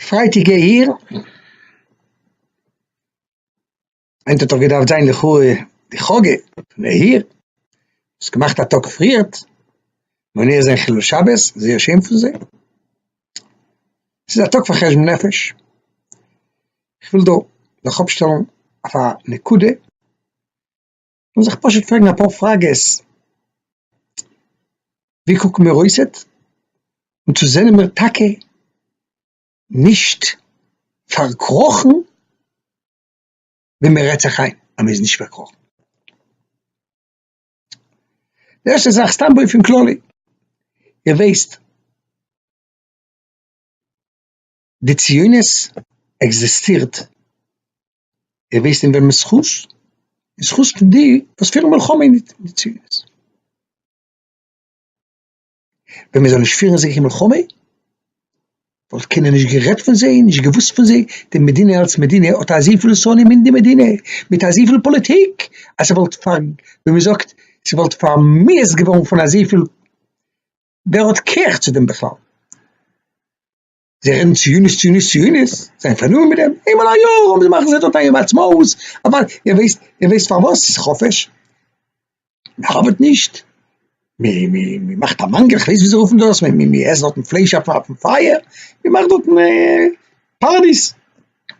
פרייטיג העיר, היינט האט דאך געדארפט זיין לכאו' די חאגע פון העיר, האסט געמאכט א טאג פריערט, מונע זיין חילול שבת, זייער שיין פון זיי, ס'איז א טאג פאר חשבון נפש, כ'וויל דא זיך אפשטעלן אויף א נקודה. און זיך פשוט פרעגן אפאר פראגעס, ווי קוקן מיר אויס און צו זענען מיר טאקע נישט פארקראכן ווי מען רעדט זיך איין אז מען איז נישט פארקראכן. די ערשטע זאך סתם באופן כללי, איר ווייסט, די ציונות עקזיסטירט און וועסט אין וועמענס זכות? אין זכות פון די וואס פירן מלחמה אין די ציונות. ווען מען זאל נישט פירן אזעלכע מלחמה, וואלט קיינער נישט גערעדט פון זיי, נישט געוואוסט פון זיי, די מדינה אלס מדינה האט אזויפיל שונאים אין די מדינה, מיט אזויפיל פאליטיק, אז ס'וואלט פאר, ווי מען זאגט, ס'וואלט פאר'מיאוס'ט געווארן פון אזויפיל, ווער האט קער צו דעם בכלל? זיי רעדן ציונות, ציונות, ציונות, זיי זענען פארנומען מיט דעם, איינמאל א יאר האבן זיי מאכן זיי דארט א יום העצמאות, אבער איר ווייסט, איר ווייסט פארוואס עס איז חופש? מען ארבעט נישט, מען, מען מאכט א מאנגעל, איך ווייס ווי זיי רופן דאס, מען, מען עסט דארטן פלייש אויף, אויפן פייער, מען מאכט דארטן פארטיס,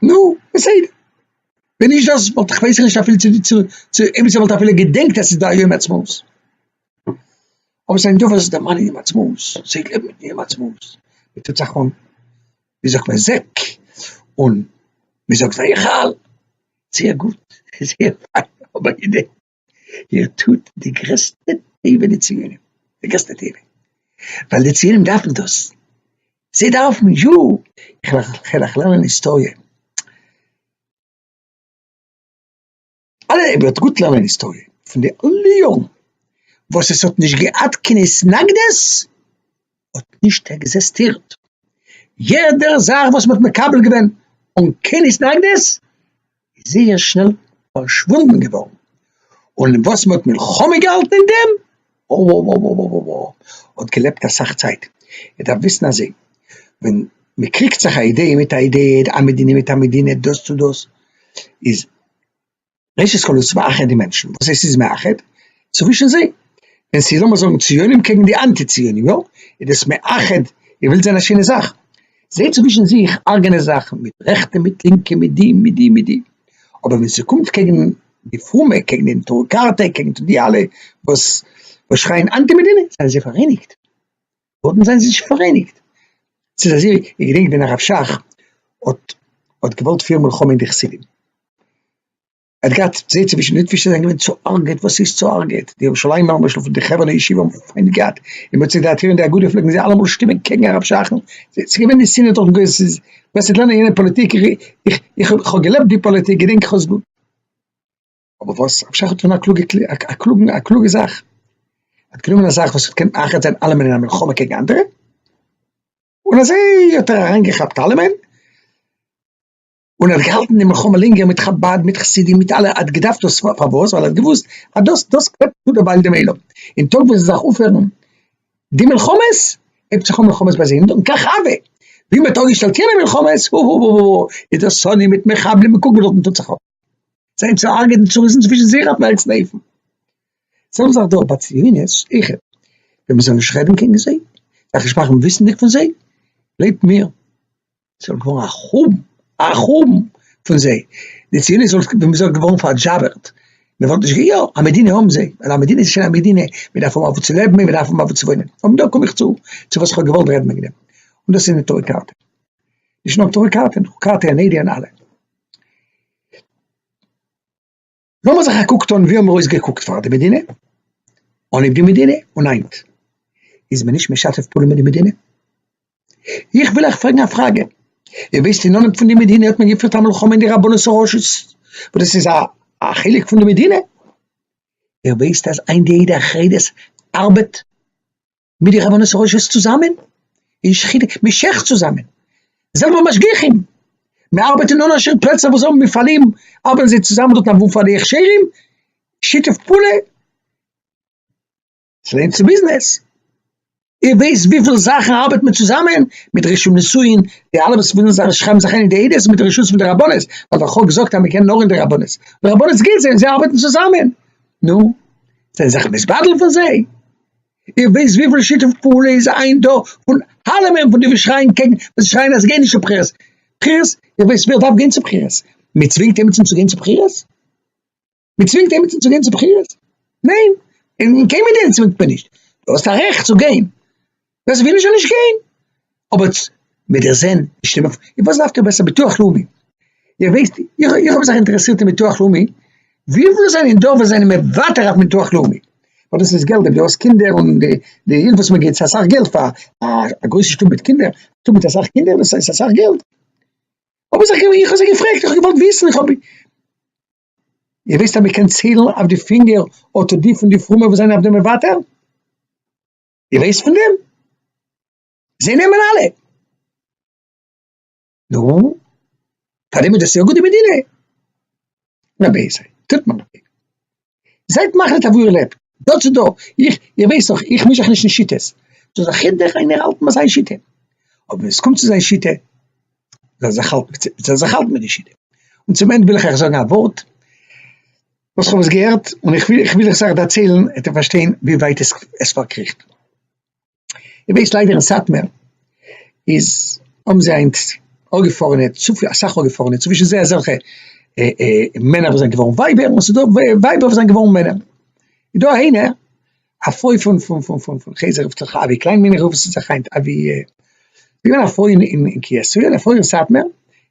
נו, בסדר, ווען נישט דאס וואלט איך ווייס איך נישט אפילו צו, צו, אויב עס וואלט אפילו געדענקט אז עס איז דא א יום העצמאות. אבער זיין דבר איז דערמאנען אים עצמות, ס'העט לעבן מיט אים עצמות, מ'טוט זיך אן ווי זאגט מען זעק, און מ'זאגט ויחל, זייער גוט, זייער פיין, אבער הנה, איר טוט די גרעסטע טובה די ציונים, די גרעסטע טובה, ווייל די ציונים דארפן דאס, זיי דארפן יא, כ'וועל אייך לערנען היסטאריע. אלע רבי האט גוט לערנען היסטאריע פון די אלע יארן וואס עס האט נישט געהאט קיין התנגדות האט נישט עקזעסטירט יעדע זאך וואס מ'האט מקבל געווען אן קיין התנגדות איז זייער שנעל פארשוואונדן געווארן און וואס מ'האט מלחמה געהאלטן אין דעם אובאמא האט געלעבט אסאך צייט, ער דארף וויסן אז ווען מען קריגט זיך א אידעע מיט א אידעע, א מדינה מיט א מדינה, דאס צו דאס, איז ראשית כל עס מאחד די מענטשן, וואס עס איז מאחד צווישן זיי, ווען ס'איז לאמיר זאגן ציונים קעגן די אנטי ציונים יא, איז דאס מאחד, איר ווילט זען א שענע זאך, זיי צווישן זיך הארגענען זיך מיט רעכטע מיט לינקע מיט די מיט די מיט די, אבער ווען ס'קומט קעגן די פרומע קעגן די נטורי קרתא קעגן די אלע וואס וואס שרייען אנטי מדינה זענען זיי פאראייניגט דארטן זענען זיי נישט פאראייניגט ס'איז אזוי איך געדענק ווען הרב שך האט האט געוואלט פירן מלחמה אין די חסידים ער האט געהאט זיי צווישן ליטווישע זענען געווען צוערגעט וואס איז צוערגעט די ירושלימער למשל פון די חברה ישיבה האבן פיינט געהאט אין מוצאי די עתירה אין די אגודה פלעגן זיי אלעמאל שטימען קעגן הרב שך ס'איז געווען די שנאה דורכן גוי'ס ס'איז וועסט נישט לערנען יענע פאליטיק איך איך איך האב געלעבט די פאליטיק געדענק איך האסט גוט אבער וואס? אפשר איך האב געטון א קלוגע א קלוגע א קלוגע זאך? ער האט גענומען א זאך וואס האט געקענט מאחד זיין אלעמען אין א מלחמה קעגן אנדערע, און אזוי האט ער אריינגעכאפט אלעמען, און ער האט געהאלטן די מלחמה לענגער מיט חבד, מיט חסידים, מיט אלע, ער האט געדארפט דאס, פארוואס? ווייל ער האט געוואוסט אז דאס, דאס קלעבט צו דערווייל דעם עולם, און טאג ווען זיי זיך אויפהערן די מלחמות, הייבט זיך אן מלחמות ביי זיי, און דאן קאך אבי, ווי מען האט אפגעשטעלט יענע מלחמות, הוהוהוהוה, איז דער שונא מיט מחבלים און קוגל דארטן טוט זיך אפ, זיי צו הרג'ענען צו ריסן צווישן זיך אויפן העכסטן אופן, זעלבע זאך דא ביי ציונות אויכעט, ווען מען זאל נישט רעדן קעגן זיי, זיך נישט מאכן וויסנדיג פון זיי, גלייבט מיר. זיי זאלן געווארן א חורבן, א חורבן פון זיי, די ציונות וואלט ווען מ'זאגט געווארן פארדזשאווערט, מ'וואלט נישט גע יא, א מדינה האבן זיי, און א מדינה איז שוין א מדינה, מ'דארף האבן אוואו צו לעבן און מ'דארף האבן אוואו צו וואוינען, און דא קום איך צו צו וואס כ'האב געוואלט רעדן וועגן דעם, און דאס איז נטורי קרתא, נישט נאר נטורי קרתא, נאר קרתא און עדי און אלע. לאמיר זיך א קוק טון ווי האמיר אויסגעקוקט פאר די מדינה, אנהייב די מדינה און היינט, איז מען נישט משתף פעולה מיט די מדינה? איך וויל אייך פרעגן א פראגע, איר וויסט אין נאמען פון די מדינה האט מען געפירט א מלחמה אין די רבנות הראשית, וואס דאס איז א א חלק פון די מדינה, איר וויסט אז היינט די עדה החרדית ארבעט? מיט די רבנות הראשית צוזאמען, אין שכינה, מען שעכט צוזאמען, זעלבע משגיחים, מען ארבעט אין אנערשע פלעצער וואס האבן מפעלים, ארבעטן זיי צוזאמען דארט אוואו פאר די הכשרים, שיתוף פעולה, ס'ווערט צו ביזנעס, איר ווייסט וויפיל זאכן ארבעט מען צוזאמען, מיט רישום נישואין, די אלע וואס ווילן זיך שרייבן זיך איין אין די עדות מיט די רשות פון די רבנות, ווייל דער חוק זאגט אז מען קען נאר אין די רבנות, די רבנות געבט זיי און זיי ארבעטן צוזאמען, נו, זיי זענען זיך מתבדל פון זיי? איר ווייסט וויפיל שיתוף פעולה איז היינט דא פון אלעמען פון די וואס שרייען קעגן וואס שרייען אז גיי נישט צו בחירות, בחירות, איר ווייסט ווער דארף גיין צו בחירות? מען צווינגט עמיצן צו גיין צו בחירות? מען צווינגט עמיצן צו גיין צו בחירות? ניין, אין קיין מדינה צווינגט מען נישט, דו האסט א רעכט צו גיין, ווער ס'וויל נישט זאל נישט גיין, אבער צ מ דיר זען נישט אין מפ י וואס דארפט איר בעסער ביטוח לאומי? איר ווייסט איך איך האב זיך אינטערעסירט אין ביטוח לאומי וויפיל זענען דא וואס זענען מוותר אויף ביטוח לאומי? ווייל דאס איז געלט אויב דו האסט קינדער און די די הילף וואס מען גיבט ס'איז אסאך געלט פאר א גרויסע שטוב מיט קינדער שטוב מיט אסאך קינדער דאס איז אסאך געלט האב איך זיך געוו איך האב זיך געפרעגט איך האב געוואלט וויסן איך האב איר ווייסט אז מען קען ציילן אויף די פינגער אטע די פון די פרומע וואס זענען אויף דעם מוותר? איר ווייסט פון דעם? זיי נעמען אלע. נו, פאר דעם איז דאס יא גוט די מדינה. נא בעזה, טוט מען דאך. זייט מחליט אוואו איר לעבט, דא צו דא. איך, איר ווייסט דאך, איך מיש זיך נישט אין שיטות. זאל זיך יעדער איינער האלטן ביי זיין שיטה. אבער ווען עס קומט צו זיין שיטה, זאל ער זיך האלטן, זאל ער זיך האלטן מיט די שיטה. און צום ענד וויל איך אייך זאגן א ווארט, וואס איך האב עס געהערט, און איך וויל, איך וויל עס אייך דערציילן, עט'ער פארשטיין ווי ווייט עס, עס פארקריכט. איך ווייס ליידער אין סאטמער איז האבן זיי היינט אפגעפארענע צופיל אסאך אפגעפארענע צווישן זיי אזעלכע מענער וואס זענען געווארן ווייבער און ס'דא ווייבער וואס זענען געווארן מענער, איז דא איינע א פרוי פון פון פון פון פון חזר רופט זיך אבי קליין מיין איך רוף עס זיך היינט אבי געווען א פרוי אין אין קיה ס' געווען א פרוי אין סאטמער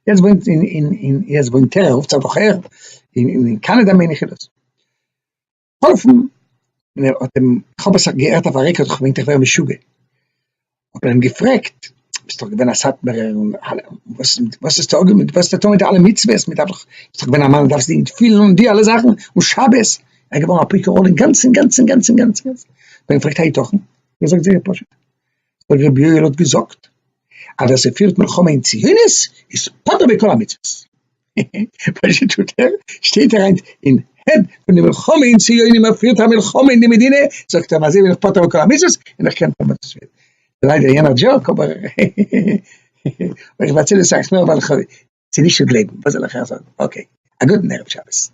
יעצט וואוינט אין אין אין יעצט וואוינט ער רופט זיך דאך ער אין אין קאנאדא מיין איך איז דאס. געהאלפן, און ער האט אים, כ'האב עס געהערט אויף א רעקארד, כ'האב געמיינט איך ווער משוגע, האט מען אים געפרעגט, ביסט דאך געווען א סאטמארער, און אלע, וואס וואס איז טאגע מיט, וואס איז טאגע מיט אלע מצוות, מען דארף דאך, ביסט דאך געווען א מאן, מען דארף זיך געפילן און די אלע זאכן, און שבת, ער איז געווארן אפיקורור אינגאנצן אינגאנצן אינגאנצן אינגאנצן, האט מען אים געפרעגט היתכן, ער זאגט זייער פשוט, דער רבי יואל האט געזאגט, אז ווער ס'פירט מלחמה אין ציונות, איז פטור מכל המצוות, פשוט טוט ער, שטייט ער היינט אין העד פון די מלחמה אין ציונים ער פירט א מלחמה אין די מדינה, זאגט ער אזוי בין איך פטור מכל המצוות און איך קען טון וואס איך וויל, ליידער יענער דזשאוק אבער איך באצל עס אויך נאר ווייל איך האב, ס'נישט צו גלייבן, וואס זאל איך אייך זאגן, אקעי, א גוטן ערב שבת.